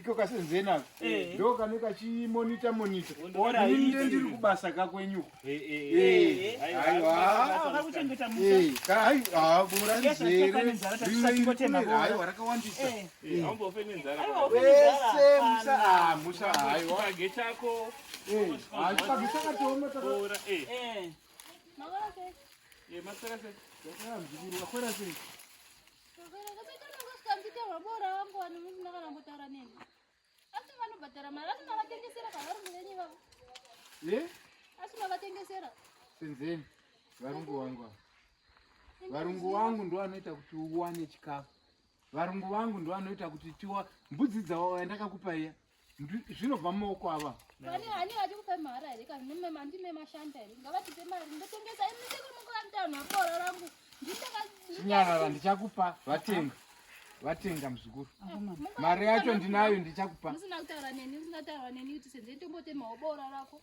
iko kasenzeni ako eh. ndo kane kachimonita monita inde ndiri kubasa kakwenyu aiwaaiwaaiwa rakawandisa wese musa musa aiwa achipagechakatooma senzeni varungu wangu varungu wangu ndo vanoita kuti uwane chikafu varungu vangu ndo vanoita kuti tiwa mbudzi dzawo yandakakupa iya zvinobva mumaoko ava pane hani vachikupa mahara here kana nemema ndime mashanda here ngavatipe mari ndotengesa imisekunokuramtanhu abora rangu nditakachinyarara ndichakupa vatenga vatenga muzukuru mari yacho ndinayo ndichakupa musina kutaura neni usingataura neni kuti senze ndombotemawo bora rako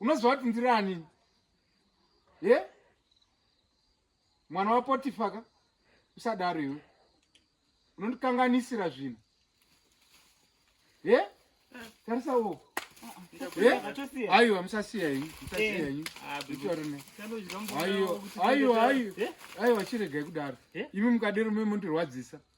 unoziva kuti ndiri anini ye yeah? mwana wapotifa ka usadaro iwe unondikanganisira zvinhu ye yeah? tarisa uoko aiwa musasiya ini musasiya ini aiwa aiwa aiwa chiregai kudaro imi mukadero memondirwadzisa